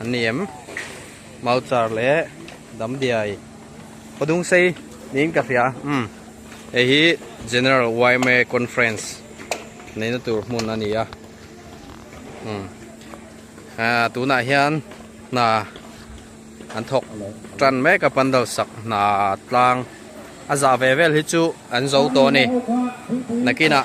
An ni em? Mauchar leh Damdiai Padungsei niin ka hria a. Umm. Hei hi General YMA Conference neihna tur hmun a ni a. Umm. Aa, tunah hian hna an thawk tan mek a, Pandalsak hna tlang a zah ve vel hi chu an zo tawh a ni. Nakinah.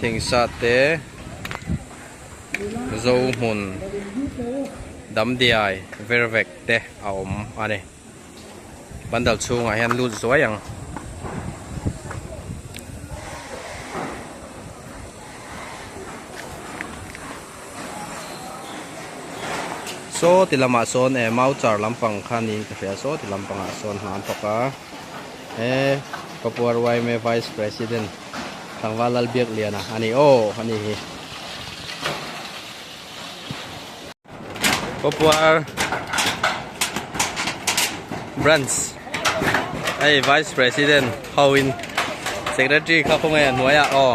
Thingsate Zohmun Damdiai Vervek te a awm a ni. Pandal chhungah hian lut zuai ang. Saw ti lamah sawn e Mauchar lampang kha niin ka hria, Saw ti lampangah sawn hlan tawka e Papuaruaime Vice President, Tlangval Lal Biakliana a ni aw a nih hi. Popuar Branch hei Vice President ho in Secretary kha khawngaih a hnuai a aw.